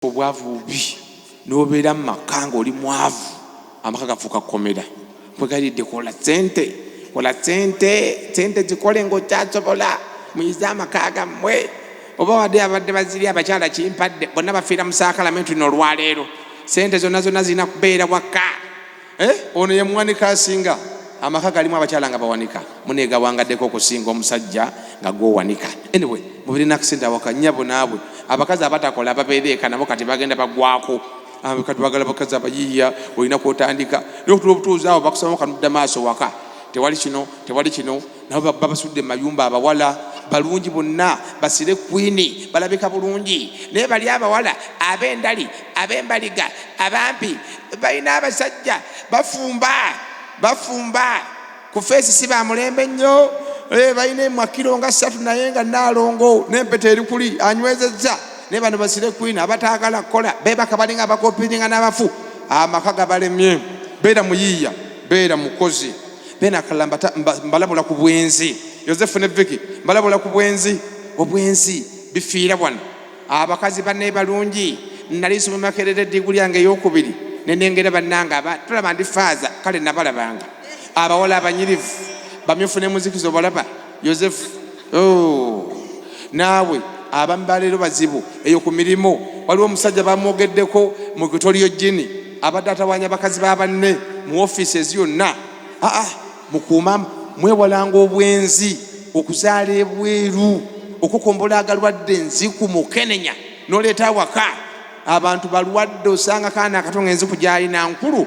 obwavu bubi nobeera mu maka nga oli mwavu amaka gafuuka kukomera kwegalidde kola sente kola sente sente zikole ngaokyasobola muyize amaka gammwe oba wadde abadde baziri abakyala kimpadde bonna bafiira mu saakalamentu nolwaleero sente zonna zonna zirina kubeera waka Eh, ono ye muwanika asinga amaka galimu abakyala nga bawanika munegawangaddeko okusinga omusajja nga gwowanika anyway mubirina akisente awaka nyabo naabwe abakazi abatakola babeereeka nabo kati bagenda bagwako ah, kati bagala bakazi abayiiya olina kwotandika naye okutula obutuuzi awo bakusaba kanudda maaso waka tewali kino tewali kino nabo ba- babasudde mu mayumba abawala balungi bonna basire kwini balabika bulungi naye bali abawala ab'endali ab'embaliga abampi balina abasajja bafumba bafumba ku feesi si ba mulembe nnyo Eh, balina emwakiro nga ssatu naye nga naalongo n'empeta eri kuli anywezezza naye bano basire kwini abataagala kukola beebaka balinga abakopiringa n'abafu amaka gabalemye beera muyiiya beera mukozi bena akalala mbalabula ku bwenzi yosefu ne viki mbalabula ku bwenzi obwenzi bifiira wano abakazi bane balungi nali nsoma makerere diguli yange eyokubiri nenengera banange aba tulaba ndi faaza kale nabalabanga abawala abanyirivu bamyufu ne muzikizo balaba yosefu oh, naawe abamu baleero bazibu eyo ku mirimu waliwo omusajja bamwogeddeko mu kutoliyo jini abadde atawanya bakazi ba banne mu offices yonna aa ah, ah, mukuuma mwewalanga obwenzi okuzaala ebweru okukombola agalwadde enziku mukenenya noleeta awaka abantu balwadde osanga kaana akato nga enziku gyalina nkulu